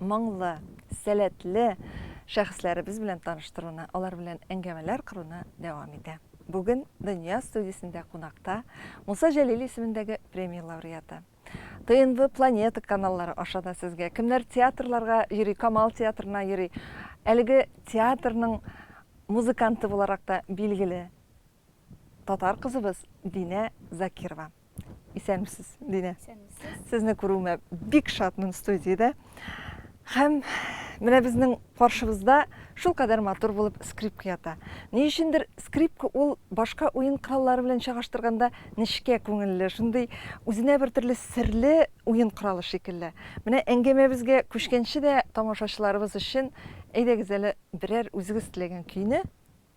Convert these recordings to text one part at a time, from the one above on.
моңлы, сәләтле шәхесләребез белән таныштыруны, алар белән әңгәмәләр кыруны дәвам итә. Бүген Дөнья студиясендә кунакта Муса Җәлил исемендәге премия лауреаты. ТНВ Планета каналлары аша да сезгә кемнәр театрларга йөри, Камал театрына йөри. Әлеге театрның музыканты буларак та билгеле. Татар кызыбыз Динә Закирова. Исәнмесез, Динә. Исәнмесез. Сезне күрүемә бик шатмын студиядә. Һәм менә безнең каршыбызда шул кадәр матур булып скрипка ята. Ни өчендер скрипка ул башка уен кораллары белән чагыштырганда нечкә күңелле, шундый үзенә бер төрле серле уен коралы шикелле. Менә әңгәмәбезгә күчкәнче дә тамашачыларыбыз өчен әйдәгез әле берәр үзегез теләгән көйне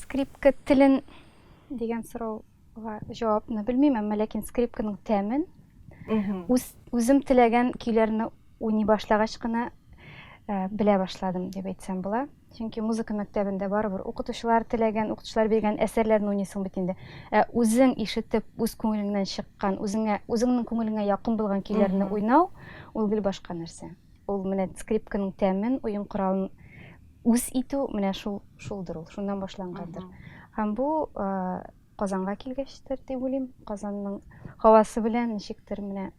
Скрипка телен дигән сорауга җавапны белмим, әмма ләкин скрипканың тәмен үз, үзем теләгән көйләрне уйный башлагач кына ә, белә башладым дип әйтсәм була. Чөнки музыка мәктәбендә барыбер укытучылар теләгән, укытучылар биргән әсәрләрне уйныйсың бит инде. Ә үзең ишетеп, үз күңелеңнән чыккан, үзеңә, үзеңнең күңелеңә якын булган көйләрне уйнау, ул гел башка нәрсә. Ул менә скрипканың тәмен, уен коралын үз итү менә шул шулдыр ул шуннан башлангандыр һәм бу казанга килгәчтер дип уйлыйм казанның һавасы белән ничектер менә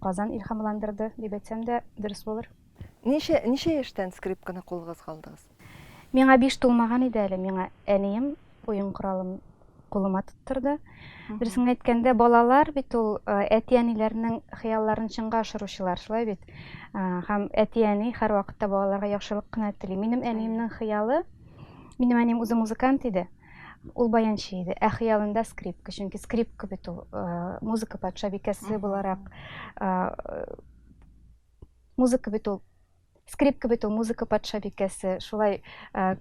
казан илһамландырды дип әйтсәм дә дөрес булыр ничә ничә яшьтән скрипканы кулыгызга алдыгыз миңа биш тулмаган иде әле миңа әнием Уен коралын кулыма тоттырды. Дөресен әйткәндә, балалар бит ул әти-әниләрнең хыялларын чынга ашыручылар, шулай бит? Һәм әти-әни һәрвакытта балаларга яхшылык кына тели. Минем әниемнең хыялы, минем әнием үзе музыкант иде, ул баянчы иде, ә хыялында скрипка, чөнки скрипка бит ул музыка патшабикәсе буларак, музыка бит ул Скрипка бит ул, музыка патша бикәсе. Шулай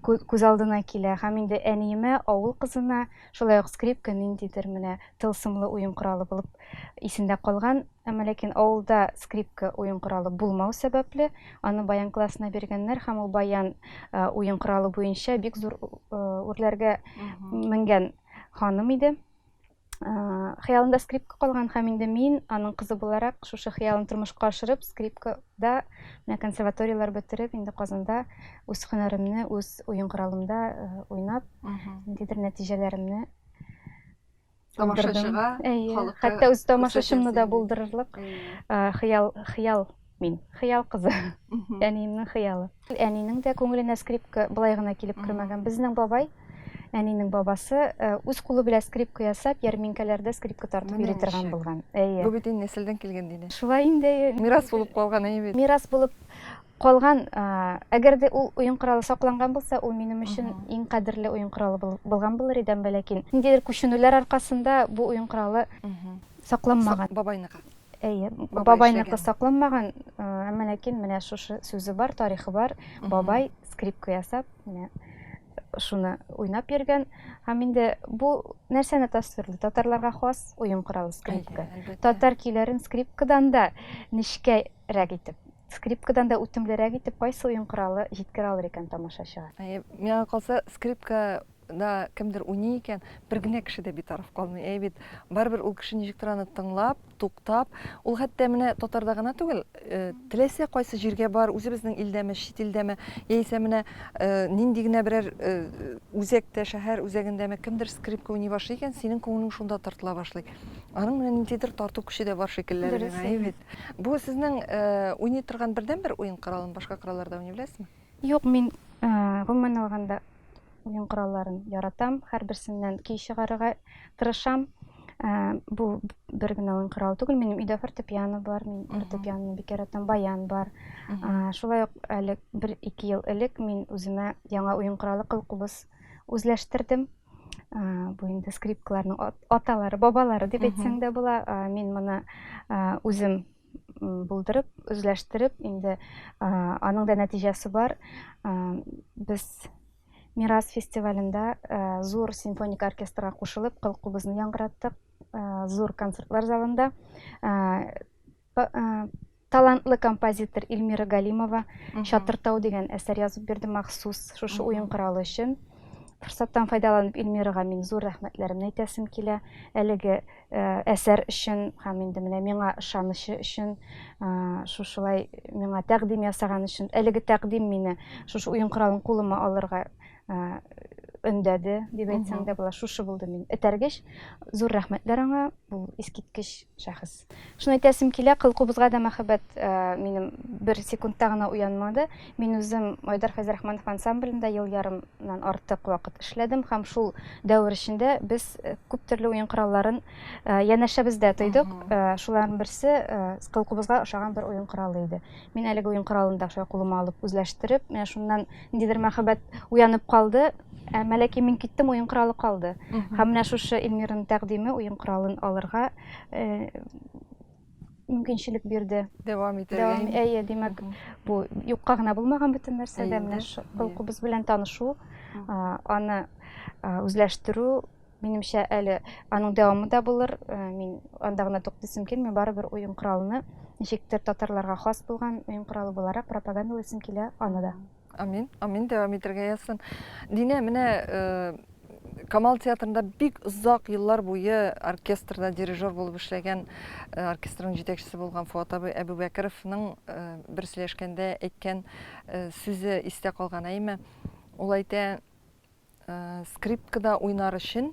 күз алдына килә. Һәм инде әниемә, авыл кызына, шулай ук скрипка ниндидер менә тылсымлы уен коралы булып исендә калган. Әмма ләкин авылда скрипка уен коралы булмау сәбәпле, аны баян классына биргәннәр һәм ул баян уен коралы буенча бик зур үрләргә менгән ханым иде. хыялында скрипка калган һәм инде мин аның кызы буларак шушы хыялын тормышка ашырып скрипкада менә консерваторияләр бетереп инде казанда үз һөнәремне үз уен коралымда уйнап ниндидер нәтиҗәләремне тамашачыга хәтта үз тамашачымны да булдырырлык хыял хыял Мин. Хыял кызы. Әниемнең хыялы. Әнинең дә күңеленә скрипка былай гына килеп кермәгән. Безнең бабай, әнинең бабасы, э, үз кулы белән скрипка ясап, ярминкәләрдә скрипка тартып йөри торган булган. Әйе. Бу бит инде нәселдән килгән диләр. Шулай инде. Мирас булып калган әйе бит. Мирас булып калган, әгәр дә ул уен коралы сакланган булса, ул минем өчен иң кадерле уен коралы булган булыр иде, әмма ләкин ниндидер күченүләр аркасында бу уен коралы сакланмаган. Бабайныкы. Әйе, бабай бабайныкы сакланмаган, әмма ләкин менә шушы сүзе бар, тарихы бар. Бабай скрипка ясап, менә шуны уйнап йөргән. Һәм инде бу нәрсәне тасвирлый? Татарларга хас уен коралы скрипка. Татар көйләрен скрипкадан да нечкәрәк итеп, скрипкадан да үтемлерәк итеп кайсы уен коралы җиткерә алыр икән тамашачыга? Миңа калса, скрипка да кемдер уйный икән, бер генә кеше дә битараф калмый. Әй бит, барыбер ул кеше ничектер аны тыңлап, туктап, ул хәтта менә татарда гына түгел, э, теләсә кайсы җиргә бар, үзебезнең илдәме, чит илдәме, яисә менә э, нинди генә берәр э, үзәктә, шәһәр үзәгендәме кемдер скрипка уйный башлый икән, синең күңелең шунда тартыла башлый. Аның менә ниндидер тарту көче дә бар шикелле. Дөрес, Әй әйе. бит. Бу сезнең э, уйный торган бердәнбер уен коралын башка коралларда уйный беләсезме? Юк, мин, гомумән алганда, уен коралларын яратам, һәрберсеннән көй чыгарырга тырышам. Бу бер генә уен коралы түгел, минем өйдә фортепиано бар, мин фортепианоны бик яратам, баян бар. Шулай ук әле бер-ике ел элек мин үземә яңа уен коралы кылкубыз үзләштердем. Бу инде скрипкаларның аталары, бабалары дип әйтсәң дә була. Мин моны үзем булдырып, үзләштереп, инде аның да нәтиҗәсе бар. Без Мирас фестивалендә зур симфоник оркестрга кушылып, кылкубызны яңгыраттык, зур концертлар залында. Талантлы композитор Эльмира Галимова Чатыртау дигән әсәр язып бирде махсус шушы уен коралы өчен. Форсаттан файдаланып Эльмирага мин зур рәхмәтләремне әйтәсем килә. Әлеге әсәр өчен һәм инде менә миңа ышанычы өчен, шушылай миңа тәкъдим ясаган өчен, әлеге тәкъдим мине шушы уен коралын кулыма алырга өндәде, дип әйтсәң дә була. Шушы булды мин этәргеч. Зур рәхмәтләр аңа, ул искиткеч шәхес. Шуны әйтәсем килә, кылкубызга да мәхәббәт минем бер секундта гына уянмады. Мин үзем Айдар Фәйзрахманов ансамблендә ел ярымнан артык вакыт эшләдем һәм шул дәвер эчендә без э, күп төрле уен коралларын э, янәшәбездә тойдык. Э, Шуларның берсе э, кылкубызга ошаган бер уен коралы иде. Мин әлеге уен коралын да шулай кулыма алып үзләштереп, менә шуннан ниндидер мәхәббәт уянып калды. Ә Мәләки мин киттем, уен коралы калды. Һәм менә шушы Эльмираның тәкъдиме уен коралын алырга э, мөмкинчелек бирде. Дәвам итәргә. Дәвам, әйе, димәк, бу юкка гына булмаган бөтен нәрсә дә менә холкыбыз белән танышу, аны үзләштерү, минемчә, әле аның дәвамы да булыр. Мин анда гына туктыйсым килми, барыбер уен коралны ничектер татарларга хас булган уен коралы буларак пропагандалыйсым килә аны да. Амин, амин, дәвам итергә язсын. Динә, менә э, Камал театрында бик озак еллар буе оркестрда дирижер булып эшләгән, э, оркестрның җитәкчесе булган Фуат абый Әбүбәкеровның э, бер сөйләшкәндә әйткән э, сүзе истә калган әйме. Ул әйтә, э, скрипкада уйнар өчен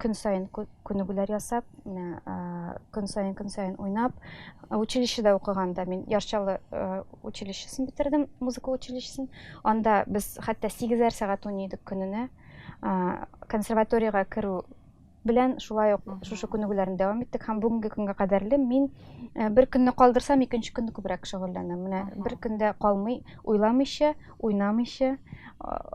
Көн саен күнегүләр ясап, менә көн саен көн саен уйнап, училищеда укыганда мин Ярчалы училищесын бетердем, музыка училищесын. Анда без хәтта 8-әр сәгать уйный идек көненә. Консерваториягә керү белән шулай ук шушы күнегүләрне дәвам иттек һәм бүгенге көнгә кадәрле мин бер көнне калдырсам, икенче көнне күбрәк шөгыльләнәм. Менә бер көндә калмый, уйламыйча, уйнамыйча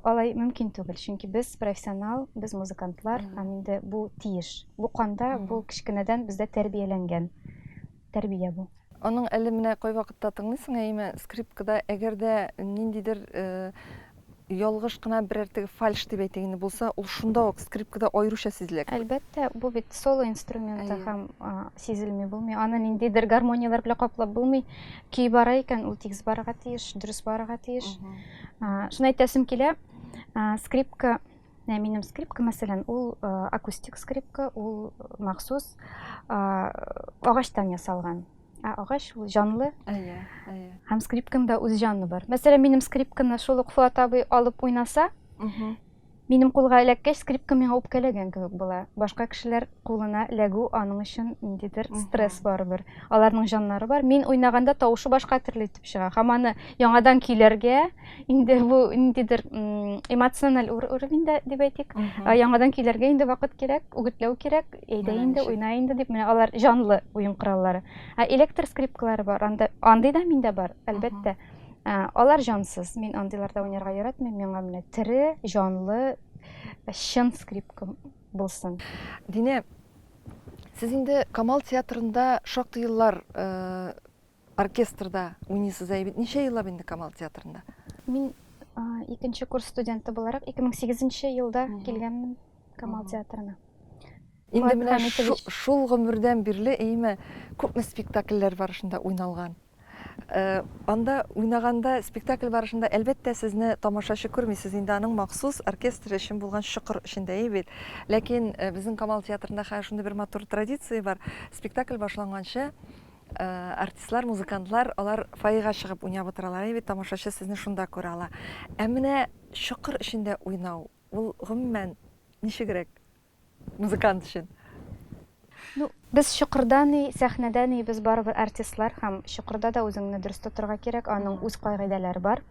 алай мөмкин түгел чөнки без профессионал без музыкантлар һәм инде бу тиеш бу канда бу кечкенәдән бездә тәрбияләнгән тәрбия бу аның әле менә кайвакытта тыңлыйсың әйме скрипкада әгәр дә ниндидер ялгыш кына берәр теге фальш дип әйтик инде булса ул шунда ук скрипкада аеруча сизелә әлбәттә бу бит соло инструменты һәм сизелми булмый аны ниндидер гармонияләр белән каплап булмый көй бара икән ул тигез барырга тиеш дөрес барырга тиеш шуны әйтәсем килә скрипка Ә минем скрипка мәсәлән ул э, акустик скрипка ул махсус э, агачтан ясалган ә агач ул җанлы әйе әйе һәм скрипканың да үз җаны бар мәсәлән минем скрипканы шул ук фуат абый алып уйнаса Минем кулга эләккәч, скрипка миңа үпкәләгән кебек була. Башка кешеләр кулына эләгү аның өчен ниндидер стресс барыбер. Аларның җаннары бар. Мин уйнаганда тавышы башка төрле итеп чыга. Һәм аны яңадан көйләргә, инде бу ниндидер эмоциональ уровеньда дип әйтик, яңадан көйләргә инде вакыт кирәк, үгетләү кирәк, әйдә инде, уйна инде дип, менә алар җанлы уен кораллары. Ә электр скрипкалары бар, андый да миндә бар, әлбәттә. Ә, алар җансыз. Мин андыйларда уйнарга яратмыйм. Миңа менә тере, җанлы, чын скрипка булсын. Динә, сез инде Камал театрында шактый еллар э, оркестрда уйныйсыз ә бит. Ничә еллап инде Камал театрында? Мин а, икенче курс студенты буларак 2008 елда килгәнмен Камал театрына. Инде менә шул гомердән бирле, әйеме, күпме спектакльләр барышында уйналган? Анда уйнаганда, спектакль барышында, әлбәттә, сезне тамашачы күрми, сез инде аның махсус оркестр өчен булган чокыр эчендә и бит. Ләкин безнең Камал театрында хәер шундый бер матур традиция бар, спектакль башланганчы, артистлар, музыкантлар, алар фойега чыгып уйнап утыралар и бит, тамашачы сезне шунда күрә ала. Ә менә чокыр эчендә уйнау, ул, гомумән, ничегрәк? Музыкант өчен. Ну, без чокырда ни, сәхнәдә ни, без барыбер артистлар һәм чокырда да үзеңне дөрес тотырга кирәк, аның үз кагыйдәләре бар.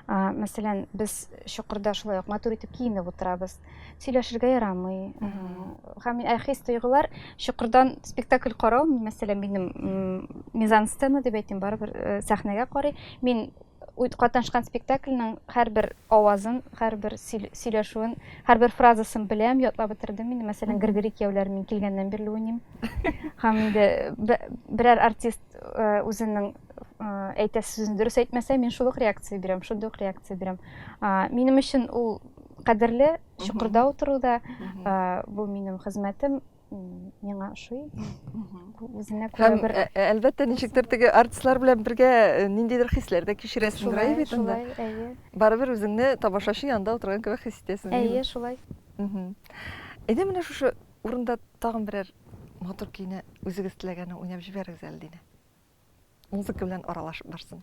Мәсәлән, без чокырда шулай ук матур итеп киенеп утырабыз. Сөйләшергә ярамый. Һәм мин хис тойгылар чокырдан спектакль карау, мәсәлән, минем мизансцена дип әйтим, барыбер сәхнәгә карый. Мин Үт катнашкан спектакльнең һәрбер авазын, һәрбер сөйләшүен, һәрбер фразасын беләм, ятлап бетердем инде. Мәсәлән, Григорий кияүләр мин килгәннән бирле уйныйм. Һәм инде берәр артист э, үзенең э, әйтә сүзен дөрес әйтмәсә, мин шул ук реакция бирәм, шундый ук реакция бирәм. Минем өчен ул кадерле, чокырда утыруда, бу минем хезмәтем, миңа ошый үзенә күрә һәм бер... Ә, ә, әлбәттә ничектер теге артистлар белән бергә э, ниндидер хисләр дә кичерәсең шулай бит анда әйе барыбер үзеңне тамашачы янында утырган кебек хис итәсең әйе шулай әйдә менә шушы урында тагын берәр матур көйне үзегез теләгәнне уйнап җибәрегез әле динә музыка белән аралашып барсын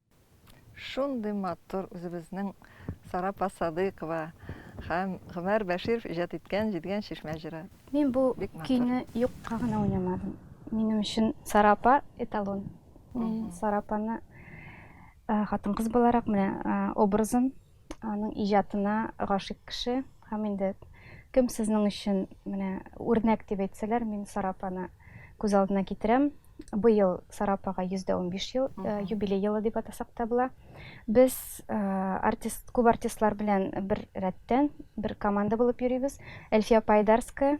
Шундый матур үзебезнең Сара Посадыкова һәм Гомәр Бәширов иҗат иткән Җидегән чишмә җыры. Мин бу көйне юкка гына уйнамадым. Минем өчен Сара апа эталон. Мин Сара апаны хатын-кыз буларак менә образын Аның иҗатына гашыйк кеше һәм инде кем сезнең өчен менә үрнәк дип әйтсәләр, мин Сара апаны күз алдына китерәм. Быел Сара апага 115 ел э, юбилей елы дип атасак та була. Без э, артист, күп артистлар белән бер рәттән, бер команда булып йөрибез. Эльфия Пайдарская,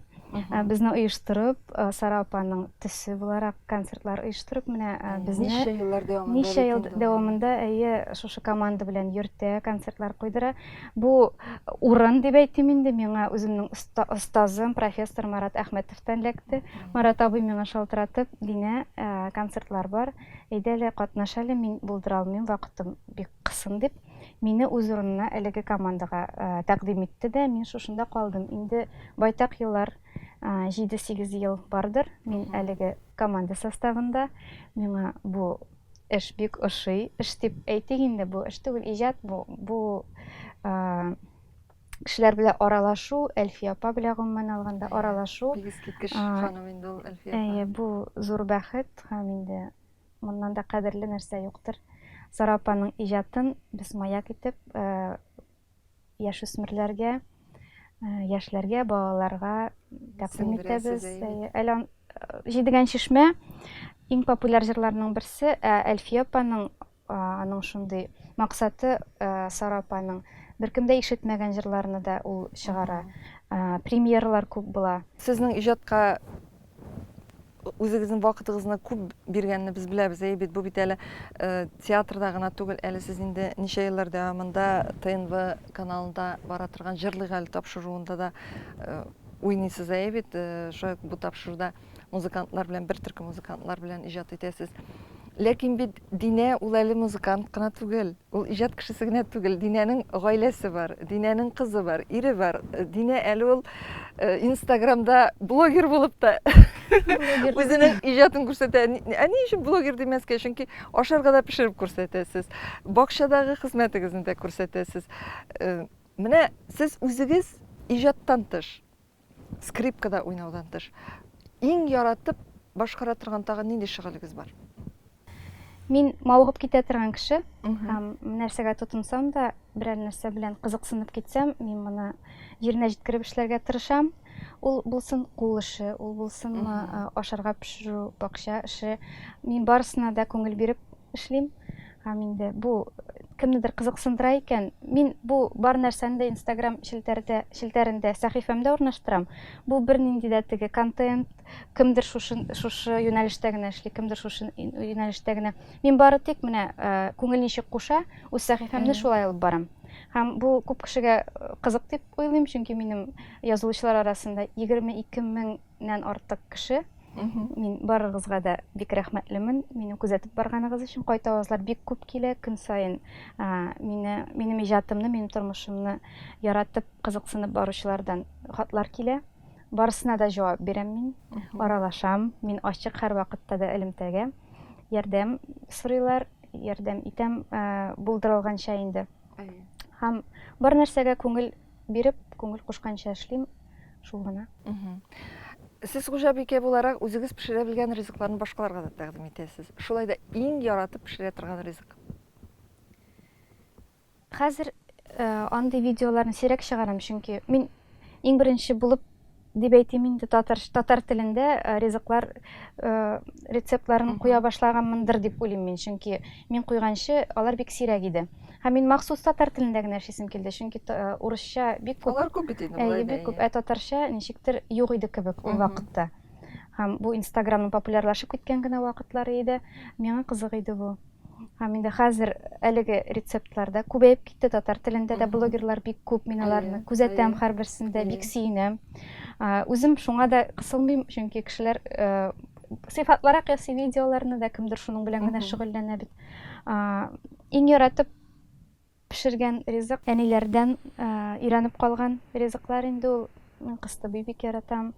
Безне оештырып, Сара апаның төсе буларак концертлар оештырып, менә безне Ничә еллар дәвамында Ничә ел дәвамында, әйе, шушы команда белән йөртә, концертлар куйдыра. Бу урын дип әйтим инде, миңа үземнең остазым, профессор Марат Әхмәтовтан эләкте. Марат абый миңа шалтыратып, Динә, концертлар бар, әйдә әле катнаш әле, мин булдыра алмыйм, вакытым бик Кылсын дип, мине үз урынына әлеге командага тәкъдим итте дә, мин шушында калдым. Инде байтак еллар, җиде-сигез ел бардыр, мин әлеге команда составында. Миңа бу эш бик ошый. Эш дип әйтик инде, бу эш түгел, иҗат бу. Бу кешеләр белән аралашу, Әлфия апа белән гомумән алганда аралашу. Искиткеч ханым инде ул Әлфия апа. Әйе, бу зур бәхет һәм инде Моннан да кадерле нәрсә юктыр. Сара апаның иҗатын без маяк итеп яшүсмерләргә, яшьләргә, балаларга тәкъдим итәбез. Әле Җидегән чишмә иң популяр җырларның берсе, ә Әлфия апаның аның шундый максаты Сара апаның беркемдә ишетмәгән җырларны да ул чыгара. Премьералар күп була. Сезнең иҗатка Үзегезнең вакытыгызны күп биргәнне без беләбез, әйе бит, бу бит әле э, театрда гына түгел, әле сез инде ничә еллар дәвамында ТНВ каналында бара торган Җырлыйк әле тапшыруында да э, уйныйсыз, әйе бит, э, шулай ук бу тапшыруда музыкантлар белән, бер төркем музыкантлар белән иҗат итәсез. Ләкин бит Динә ул әле музыкант кына түгел. Ул иҗат кешесе генә түгел, Динәнең гаиләсе бар, Динәнең кызы бар, ире бар. Динә әле ул Инстаграмда блогер булып та үзенең иҗатын күрсәтә. Ә ни өчен блогер димәскә? Чөнки ашарга да пешереп күрсәтәсез. Бакчадагы хезмәтегезне дә күрсәтәсез. Менә сез үзегез иҗаттан тыш, Скрипкада уйнаудан тыш, иң яратып башкара торган тагын нинди шөгылегез бар? Мин мавыгып китә торган кеше. Һәм нәрсәгә тотынсам да, берәр нәрсә белән кызыксынып китсәм, мин моны җиренә җиткереп эшләргә тырышам. Ул булсын кул эше, ул булсынмы ашарга пешерү, бакча эше. Мин барысына да күңел биреп Эшлим һәм инде бу кемнедер кызыксындыра икән, мин бу бар нәрсәне дә Instagram челтәрдә, челтәрендә, сәхифәмдә урнаштырам. Бу бернинди дә теге контент, кемдер шушы, шушы юнәлештә генә эшли, кемдер шушы юнәлештә генә. Мин бары тик менә күңел ничек куша, үз сәхифәмне шулай алып барам. Һәм бу күп кешегә кызык дип уйлыйм, чөнки минем язылучылар арасында 22 мең Нән артык кеше. Мин барыгызга да бик рәхмәтлемен. Мине күзәтеп барганыгыз өчен кайта авазлар бик күп килә. Көн саен мине, минем иҗатымны, минем тормышымны яратып, кызыксынып баручылардан хатлар килә. Барысына да җавап бирәм мин. Аралашам. Мин ачык һәр вакытта да элемтәгә. Ярдәм сорыйлар, ярдәм итәм булдырылганча инде. Һәм бар нәрсәгә күңел Биреп, күңел кушканча эшлим, шул гына. Сез хуҗабикә буларак үзегез пешерә белгән ризыкларны башкаларга да тәкъдим итәсез. Шулай да иң яратып пешерә торган ризык. Хәзер э, андый видеоларны сирәк чыгарам, чөнки мин иң беренче булып дип әйтим инде татар татар телендә э, ризыклар э, рецептларын куя башлаганмындыр дип уйлыйм мин чөнки мин куйганчы алар бик сирәк иде һәм мин махсус татар телендә генә эшлисем килде чөнки э, урысча бик күп алар күп бит инде әйе бик күп ә татарча ничектер юк иде кебек ул вакытта һәм бу инстаграмның популярлашып киткән генә вакытлары иде миңа кызык иде бу Һәм инде хәзер әлеге рецептлар да күбәеп китте, татар телендә дә блогерлар бик күп, мин аларны күзәтәм һәрберсендә, бик сөенәм. Үзем шуңа да кысылмыйм, чөнки кешеләр сыйфатлырак ясый видеоларны да, кемдер шуның белән генә шөгыльләнә бит. Иң яратып Пешергән ризык әниләрдән өйрәнеп калган ризыклар инде ул. Мин кыстыбый бик яратам.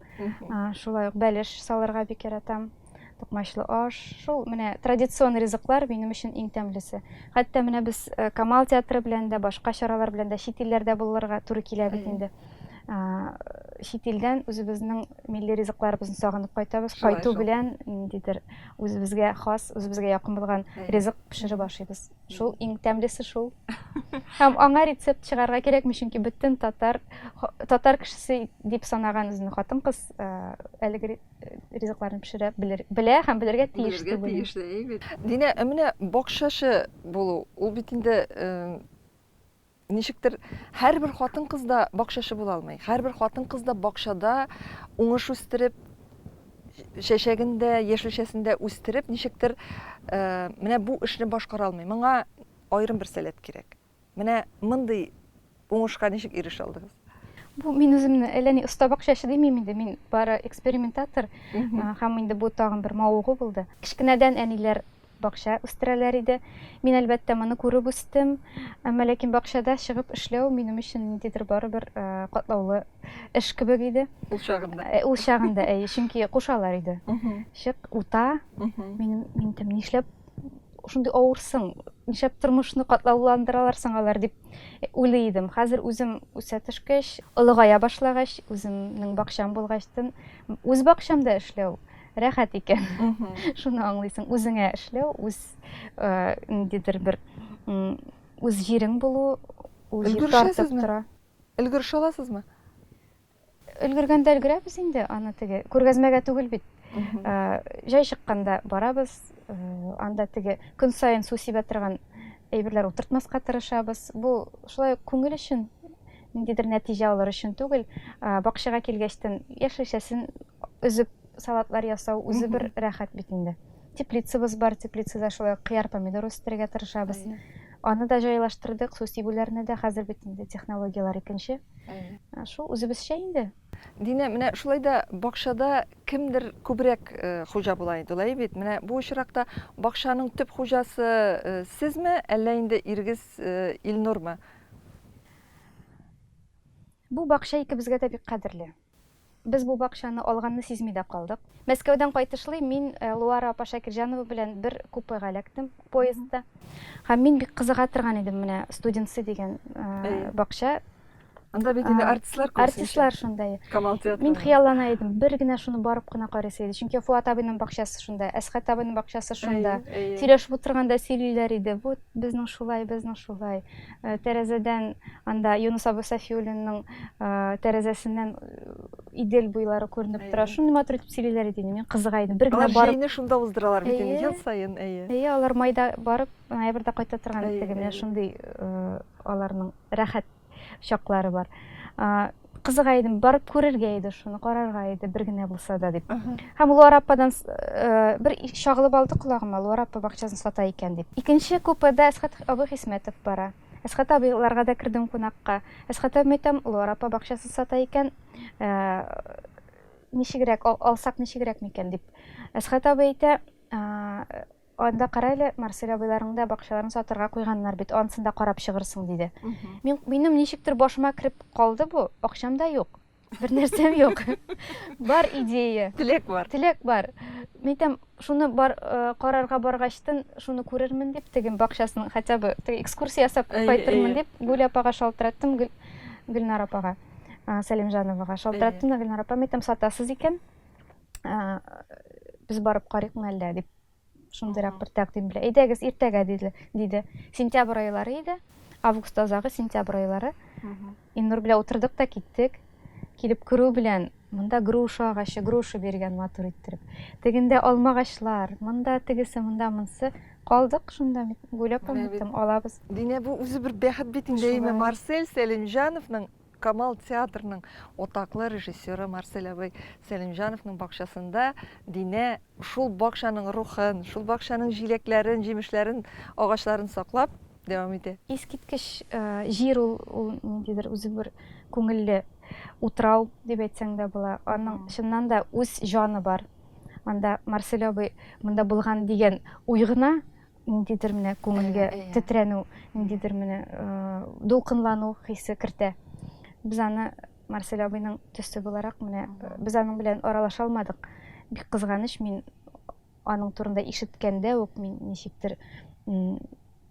Шулай ук бәлеш салырга бик яратам. Токмачлы аш. Шул менә традицион ризыклар минем өчен иң тәмлесе. Хәтта менә без э, Камал театры белән дә, башка чаралар белән дә чит илләрдә булырга туры килә бит инде. Чит илдән үзебезнең милли ризыкларыбызны сагынып кайтабыз. Кайту белән ниндидер үзебезгә хас, үзебезгә якын булган ризык пешереп ашыйбыз. Шул иң тәмлесе шул. Һәм аңа рецепт чыгарга кирәкми, чөнки бөтен татар татар кешесе дип санаган үзен хатын-кыз э, әлеге ризыкларны пешерә белер, белә һәм белергә тиеш Белергә түгел. тиеш дә, әйбәт. Динә, ә менә бакчачы булу, ул бит инде э, Ничектер, һәрбер хатын-кыз да бакчачы була алмый. Һәрбер хатын-кыз да бакчада уңыш үстереп, чәчәген дә, яшелчәсен дә үстереп, ничектер менә бу эшне башкара алмый. Моңа аерым бер сәләт кирәк. Менә мондый уңышка ничек ирешә алдыгыз? Бу мин үземне әллә ни оста бакчачы димим инде, мин бары экспериментатор һәм инде бу тагын бер мавыгу булды. Кечкенәдән әниләр Бакча үстерәләр иде. Мин, әлбәттә, моны күреп үстем. Әмма ләкин бакчада чыгып эшләү минем өчен ниндидер барыбер катлаулы эш кебек иде. Ул чагында. Ул чагында, әйе, чөнки кушалар иде. Чык, ута. Мин, мин тем нишләп шундый авырсың, нишләп тормышны катлауландыралар соң алар дип уйлый идем. Хәзер үзем үсә төшкәч, олыгая башлагач, үземнең бакчам булгачтын, үз бакчамда эшләү, рәхәт икән. Шуны аңлыйсың, үзеңә эшләү, үз ниндидер бер үз җирең булу, үз тартып тора. Өлгершә аласызмы? Өлгергәндә өлгерәбез инде, аны теге күргәзмәгә түгел бит. Җай чыкканда барабыз, анда теге көн саен су сибә торган әйберләр утыртмаска тырышабыз. Бу шулай күңел өчен ниндидер нәтиҗә алыр өчен түгел, бакчага килгәчтен яшелчәсен Өзеп салатлар ясау үзе бер рәхәт бит инде. Теплицабыз бар, теплицада шулай ук кыяр, помидор үстерергә тырышабыз. Аны да җайлаштырдык, су сибүләрне дә, хәзер бит инде технологияләр икенче. Шул үзебезчә инде. Динә, менә шулай да бакчада кемдер күбрәк хуҗа була инде, алай бит? Менә бу очракта бакчаның төп хуҗасы сезме, әллә инде ирегез Илнурмы? Бу бакча икебезгә дә бик кадерле. Без бу бакчаны алганны сизми дә калдык. Мәскәүдән кайтышлый мин Луара апа Шакирҗанова белән бер купега эләктем, поездда. Һәм мин бик кызыга торган идем менә Студенцы дигән бакча. Анда бит инде артистлар күп. Артистлар шунда. Камал театры. Мин хыяллана идем, бер генә шуны барып кына карыйсы иде. Чөнки Фуат абыйның бакчасы шунда, Әсхәт абыйның бакчасы шунда. Сөйләшеп утырганда сөйлиләр иде, вот безнең шулай, безнең шулай. Тәрәзәдән анда Юнус абый Сафиуллинның тәрәзәсеннән Идел буйлары күренеп тора. Шундый матур итеп сөйлиләр иде инде. Мин кызыга идем. Бер генә барып. Җәйне шунда уздыралар бит инде ел саен, әйе. Әйе, алар майда барып, ноябрьдә кайта торган дип, менә шундый аларның рәхәт чаклары бар. кызыга идем барып күрергә иде шуны карарга иде бер генә булса да дип һәм луар ападан э, бер чагылып алды колагыма луар апа бакчасын сата икән дип икенче купеда әсхат абый хисмәтов бара әсхат абыйларга да кердем кунакка әсхат абыйм әйтәм луар апа бакчасын сата икән э, ничегрәк алсак ничегрәк микән дип әсхат абый әйтә Анда кара әле, Марсель абыйларның да бакчаларын сатырга куйганнар бит, анысын да карап чыгырсың, диде. Мин, минем ничектер башыма кереп калды бу, акчам да юк, бернәрсәм юк. Бар идея. Теләк бар. Теләк бар. Мин әйтәм, шуны бар, э, карарга баргачтын, шуны күрермен дип, теге бакчасын хотя бы теге экскурсия ясап Әйе, кайтырмын әйе. дип, Гүл апага шалтыраттым, Гөл, Гөлнар апага, а, Сәлимҗановага шалтыраттым да Гөлнар апа, мин әйтәм, сатасыз икән, ә, без барып карыйкмы әллә дип шундыйрак бер тәкъдим белән әйдәгез иртәгә диде диде сентябрь айлары иде август азагы сентябрь айлары иннур белән утырдык та киттек килеп керү белән монда груша агачы груша биргән матур иттереп тегендә алма агачлар монда тегесе монда монысы калдык шунда гүләп алабыз динә бу үзе бер бәхет бит инде марсель сәлимҗановның Камал театрының атаклы режиссеры Марсель абый Сәлимҗановның бакчасында Динә шул бакчаның рухын, шул бакчаның җиләкләрен, җимешләрен, агачларын саклап дәвам итә. Искиткеч җир ул, ул ниндидер үзе бер күңелле утрау дип әйтсәң дә була. Аның чыннан да үз җаны бар. Анда Марсель абый монда булган дигән уй гына ниндидер менә күңелгә э, э. тетрәнү ниндидер менә дулкынлану хисе кертә без аны марсель абыйның төсе буларак менә без аның белән аралаша алмадык бик кызганыч мин аның турында ишеткәндә үк мин ничектер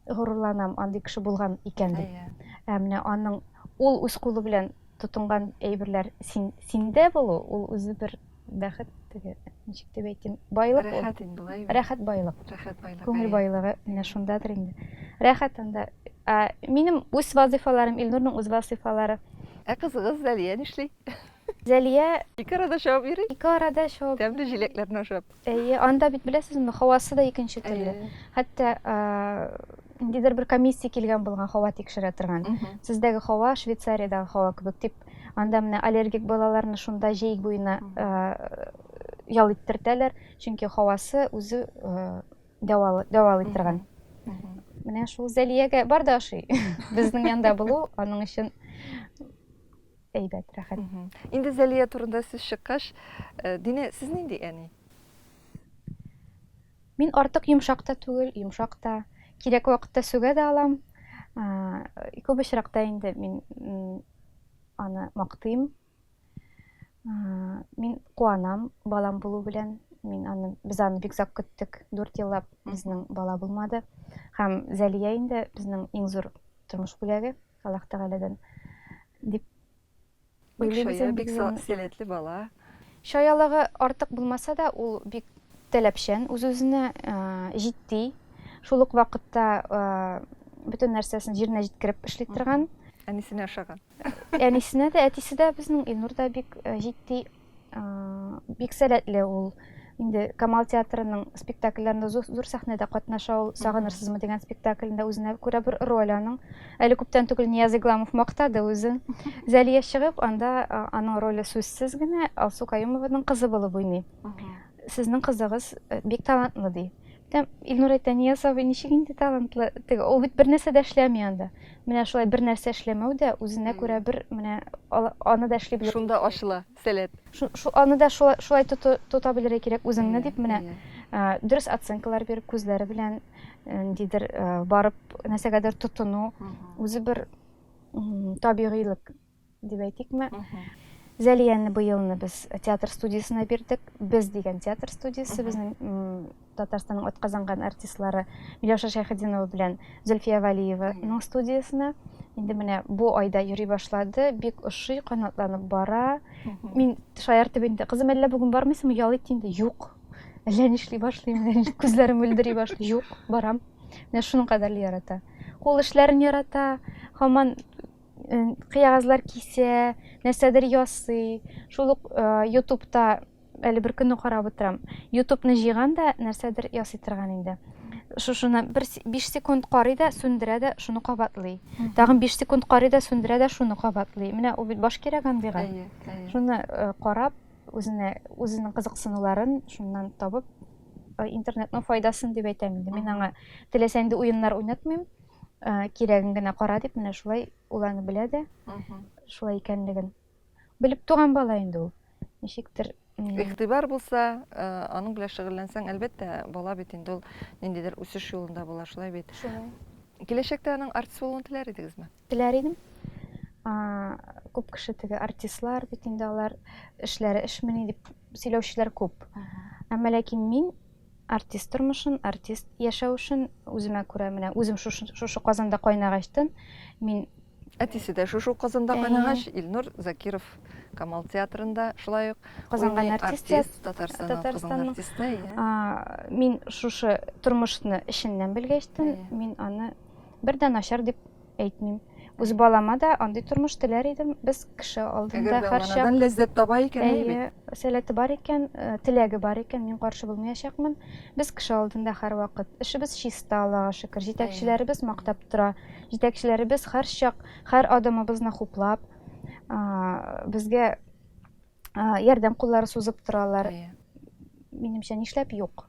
горурланам андый кеше булган икән дип иә. ә менә аның ул үз кулы белән тотынган әйберләр син синдә булу ул үзе бер Бәхет теге, ничек дип әйтим, байлык ул. Рәхәт инде болай. Рәхәт байлык. Рәхәт байлык. Күңел байлыгы менә шундадыр инде. Рәхәт анда. Ә, минем үз вазифаларым, Илнурның үз вазифалары. Ә кызыгыз Зәлия нишли? Зәлия ике арада чабып йөри. Ике арада чабып. Тәмле җиләкләрне ашап. Әйе, анда бит беләсезме, һавасы да икенче төрле. Хәтта ниндидер бер комиссия килгән булган һава тикшерә торган. Сездәге һава Швейцариядәге һава кебек дип Анда менә аллергик балаларны шунда җәй буена ял иттертәләр, чөнки һавасы үзе дәвалый торган. Менә шул Зәлиягә бар да ашый. Безнең янда булу аның өчен әйбәт, рәхәт. Инде Зәлия турында сүз чыккач, Динә, сез нинди әни? Мин артык йомшак та түгел, йомшак та. Кирәк вакытта сүгә дә алам. Күп очракта инде мин аны мактыйм. Мин куанам балам булу белән. Мин аны, без аны бик зак көттек. 4 еллап безнең бала булмады. Һәм Зәлия инде безнең иң зур тормыш бүләге Аллаһ Тәгаләдән дип Бик чая, бик сәләтле бала. Чаялыгы артык булмаса да, ул бик таләпчән, үз-үзенә җитди, шул ук вакытта бөтен нәрсәсен җиренә җиткереп эшли торган. Әнисенә ошаган. Әнисенә дә, әтисе дә безнең Илнур да бик җитди. Бик сәләтле ул. Инде Камал театрының спектакльләрендә зур сәхнәдә катнаша ул. Сагынырсызмы дигән спектаклендә үзенә күрә бер роль аның. Әле күптән түгел Нияз Игламов мактады үзен. Зәлия чыгып, анда аның роле сүзсез генә Алсу Каюмованың кызы булып уйный. Сезнең кызыгыз бик талантлы, ди. Тәм, Илнур әйтә, Нияз абый ничек инде талантлы? Теге, ул бит бер нәрсә дә эшләми анда. Менә шулай бер нәрсә эшләмәү дә үзенә күрә бер менә аны да эшли белер. Шунда ачыла сәләт. Шу, аны да шулай, шулай тота белергә кирәк үзеңне, дип менә дөрес оценкалар биреп, күзләре белән ниндидер барып нәрсәгәдер тотыну, үзе бер табигыйлык. дип әйтикме зәлияне быелны без театр студиясенә бирдек без дигән театр студиясе безнең татарстанның атказанган артистлары миләүшә шәйхетдинова белән зөлфия валиеваның студиясенә инде менә бу айда йөри башлады бик ошый канатланып бара мин шаяртып инде кызым әллә бүген бармыйсыңмы ял ит инде юк әллә нишли башлыйм күзләрем мөлдери башлый юк барам менә шуның кадәрле ярата кул эшләрен ярата һаман кыягазлар кисә, нәрсәдер ясый. Шул ук ютубта әле бер көнне карап утырам. Ютубны җыйган да нәрсәдер ясый торган инде. Шушыны бер 5 секунд карый да, сүндерә дә, шуны кабатлый. Тагын 5 секунд карый да, сүндерә дә, шуны кабатлый. Менә ул бит баш кирәк андыйга. Шуны карап, үзенә үзенең кызыксынуларын шуннан табып, интернетның файдасын дип әйтәм инде. Мин аңа теләсә нинди уеннар уйнатмыйм. Ә, кирәген генә кара дип, менә шулай ул аны белә дә, шулай икәнлеген. Белеп туган бала инде ул. Ничектер Игътибар булса, э, аның белән шөгыльләнсәң, әлбәттә, бала бит инде ул ниндидер үсеш юлында була, шулай бит. Шулай. Киләчәктә аның артист булуын теләр идегезме? Теләр идем. А, күп кеше теге артистлар бит инде алар эшләре эшмени дип сөйләүчеләр күп. Әмма ләкин мин Артист тормышын, артист яшәвешен үземә күрә менә үзем шушы Казанда кайнагачтын мин Әтисе дә шушы ук Казанда кайнагач, Илнур Закиров Камал театрында шулай ук Казанга артист, артист Татарстанның Татарстан артисты. Мин шушы тормышны эшеннән белгәчтен, мин аны бердән начар дип әйтмим. Үз балама да андый тормыш теләр идем. Без кеше алдында һәрчак Әгәр дә анадан ләззәт таба икән, әйе бит. Әйе, сәләте бар икән, э, теләге бар икән, мин каршы булмаячакмын. Без кеше алдында һәрвакыт. Эшебез чиста, Аллага шөкер. Җитәкчеләребез мактап тора. Җитәкчеләребез һәрчак һәр адымыбызны хуплап, безгә ярдәм куллары сузып торалар. Минемчә, нишләп юк?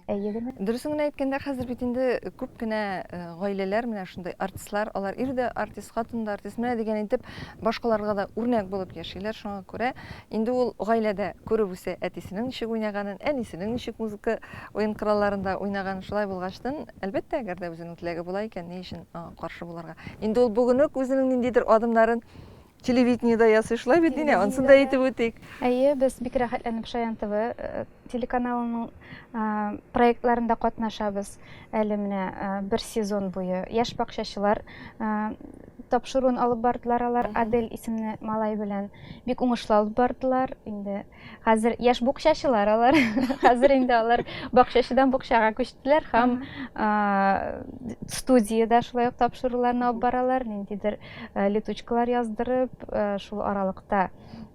Әйе генә. Дөресен генә әйткәндә, хәзер бит инде күп кенә э, гаиләләр менә шундый артистлар, алар ир дә артист, хатын да артист, менә дигән итеп башкаларга да үрнәк булып яшиләр. Шуңа күрә инде ул гаиләдә күреп үсә әтисенең ничек уйнаганын, әнисенең ничек музыка уен коралларында уйнаганын. Шулай булгачтын, әлбәттә, әгәр дә үзенең теләге була икән, ни өчен аңа каршы булырга? Инде ул бүген үк үзенең ниндидер адымнарын Телевидениедә ясый шулай бит, Динә, ансын да әйтеп үтик. Әйе, без бик рәхәтләнеп Шаян ТВ э, телеканалының э, проектларында катнашабыз. Әле менә э, бер сезон буе яшь бакчачылар тапшыруын алып бардылар алар Адель исемле малай белән. Бик уңышлы алып бардылар. Инде Хәзер яшь букчачылар алар. Хәзер инде алар бакчачыдан букчага күчтеләр һәм студиядә шулай ук тапшыруларны алып баралар, ниндидер летучкалар яздырып, шул аралыкта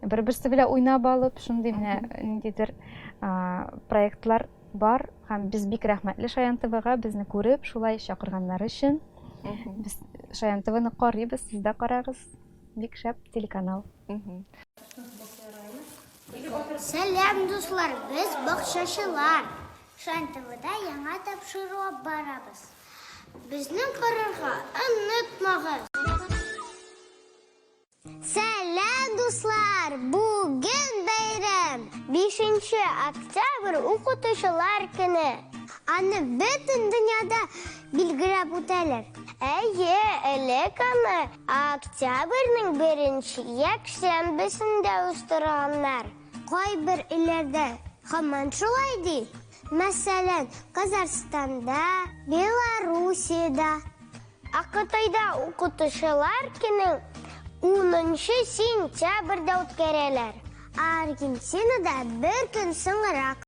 бер-берсе белән уйнап алып, шундый менә ниндидер проектлар бар һәм без бик рәхмәтле Шаян ТВга безне күреп, шулай чакырганнары өчен. Без Шаян ТВны карыйбыз, сез дә карагыз. Бик шәп телеканал. Сәлам, дуслар, без бакчачылар. Шан ТВда яңа тапшыруга барабыз. Безнең карарга онытмагыз. Сәлам, дуслар! Бүген бәйрәм! 5 октябрь укытучылар көне. Аны бөтен дөньяда билгеләп үтәләр. Әйе, элек аны Октябрьнең беренче якшәмбесендә уздырганнар. Кайбер илләрдә һаман шулай ди. Мәсәлән, Казахстанда, Белоруссиядә. Ә Кытайда Укытучылар көнен унынчы сентябрьдә үткәрәләр. Ә Аргентинада бер көн соңрак.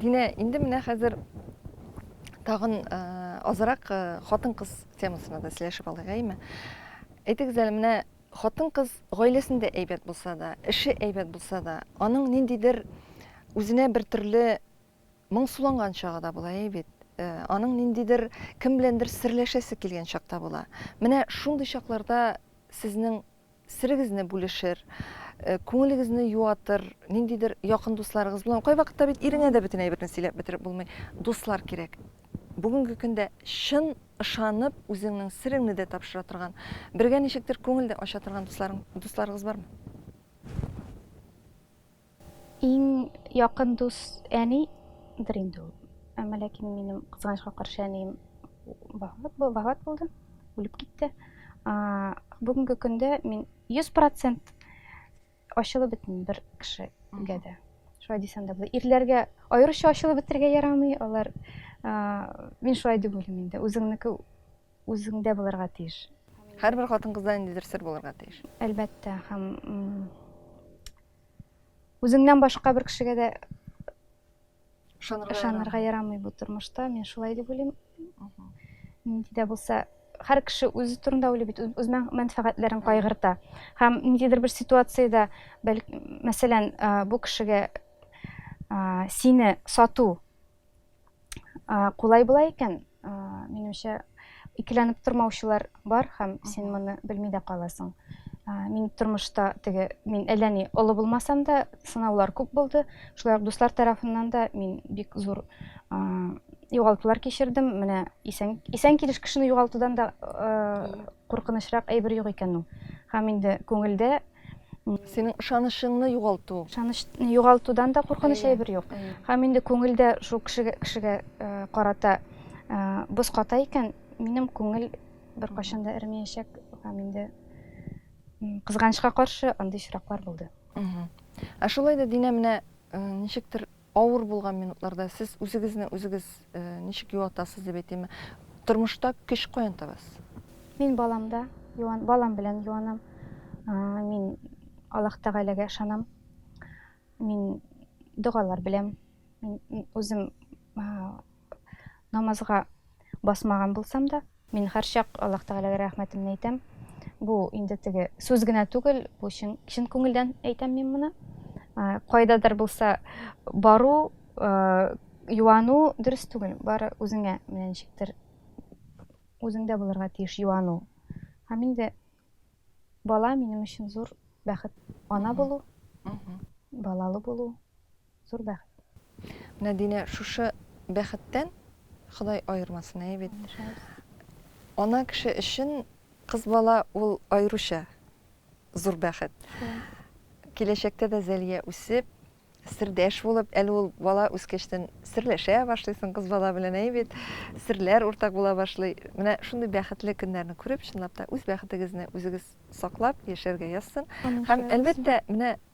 Динә, инде менә хәзер тагын азрак хатын-кыз темасына да сөйләшеп алыйк, әйме? Әйтегез әле, менә хатын-кыз гаиләсендә әйбәт булса да, эше әйбәт булса да, аның ниндидер үзенә бер төрле Моңсуланган чагы да була, әй бит. Аның ниндидер, кем беләндер серләшәсе килгән чак та була. Менә шундый чакларда сезнең серегезне бүлешер, күңелегезне юатыр ниндидер якын дусларыгыз буламы? Кайвакытта бит иреңә дә бөтен әйберне сөйләп бетереп булмый. Дуслар кирәк. Бүгенге көндә чын ышанып, үзеңнең сереңне дә тапшыра торган, бергә ничектер күңел дә ача торган дусларың, дусларыгыз бармы? Иң якын дус әни дер инде ул. Әмма ләкин минем кызганычка каршы әнием вафат вафат булды, үлеп китте. Бүгенге көндә мин 100% ачылып бетмим бер кешегә дә. Шулай дисәм дә була. Ирләргә аеруча ачылып бетергә ярамый, алар мин шулай дип уйлыйм инде. Үзеңнеке Үзеңдә булырга тиеш. Һәрбер хатын-кызда ниндидер сер булырга тиеш. Әлбәттә, һәм үзеңнән башка бер кешегә дә ышанырга ярамый бу тормышта. Мин шулай дип уйлыйм. Нинди дә булса, һәр кеше үзе турында уйлый бит, үз мәнфәгатьләрен кайгырта. Һәм ниндидер бер ситуациядә, мәсәлән, бу кешегә сине сату Кулай була икән, минемчә, икеләнеп тормаучылар бар һәм син моны белми дә каласың. Мин тормышта теге, мин әллә ни олы булмасам да, сынаулар күп булды. Шулай ук дуслар тарафыннан да мин бик зур югалтулар кичердем. Менә исән, исән килеш кешене югалтудан да куркынычрак әйбер юк икән ул. Һәм инде күңелдә Синең ышанычыңны югалту. Ышанычны югалтудан да куркыныч әйбер юк. Һәм инде күңелдә шул кешегә кешегә э, карата э, боз ката икән, минем күңел беркайчан да эремәячәк һәм инде кызганычка каршы андый очраклар булды. Ә шулай да Динә менә э, ничектер Авыр булган минутларда сез үзегезне үзегез ничек юатасыз дип әйтимме? Тормышта көч каян табасыз? Мин баламда юан, балам белән юанам. Мин Аллаһ Тәгаләгә ышанам. Мин догалар беләм. Мин үзем Намазга басмаган булсам да, мин һәрчак Аллаһ Тәгаләгә рәхмәтемне әйтәм. Бу инде теге сүз генә түгел, бу чын, чын күңелдән әйтәм мин моны. Кайдадыр булса бару, юану дөрес түгел, бары үзеңә менә ничектер үзеңдә булырга тиеш юану. Һәм инде бала минем өчен зур бәхет. Ана булу, балалы булу. Зур бәхет. Менә Динә шушы бәхеттән Ходай аермасын, әйе бит? Ана кеше өчен кыз бала ул аеруча зур бәхет. Киләчәктә дә Зәлия үсеп, сердәш булып, әле ул бала үскәчтән серләшә башлыйсың кыз бала белән, әйе бит? Серләр уртак була башлый. Менә шундый бәхетле көннәрне күреп, чынлап та, үз бәхетегезне үзегез саклап яшәргә язсын. Һәм, әлбәттә, менә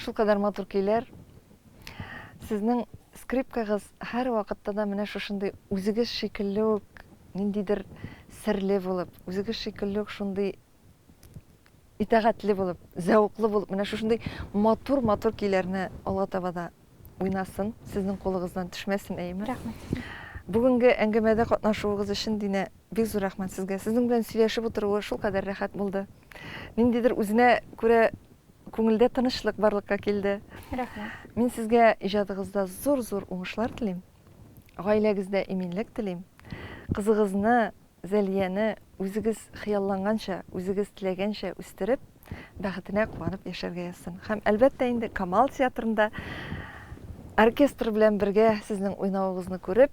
Шул кадәр матур көйләр. Сезнең скрипкагыз һәрвакытта да менә шушындый үзегез шикелле үк ниндидер серле булып, үзегез шикелле үк шундый итәгатьле булып, зәвыклы булып, менә шушындый матур-матур көйләрне алга таба да уйнасын, сезнең кулыгыздан төшмәсен, әйеме? Рәхмәт. Бүгенге әңгәмәдә катнашуыгыз өчен, Динә, бик зур рәхмәт сезгә. Сезнең белән сөйләшеп утыруы шулкадәр рәхәт булды. Ниндидер үзенә күрә күңелдә тынычлык барлыкка килде. Рәхмәт. Мин сезгә иҗатыгызда зур-зур уңышлар телим. Гаиләгездә иминлек телим. Кызыгызны, Зәлияне үзегез хыялланганча, үзегез теләгәнчә үстереп, бәхетенә куанып яшәргә язсын. Һәм әлбәттә инде Камал театрында оркестр белән бергә сезнең уйнавыгызны күреп,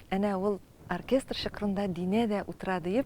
әнә ул оркестр чокырында Динә дә утыра диеп,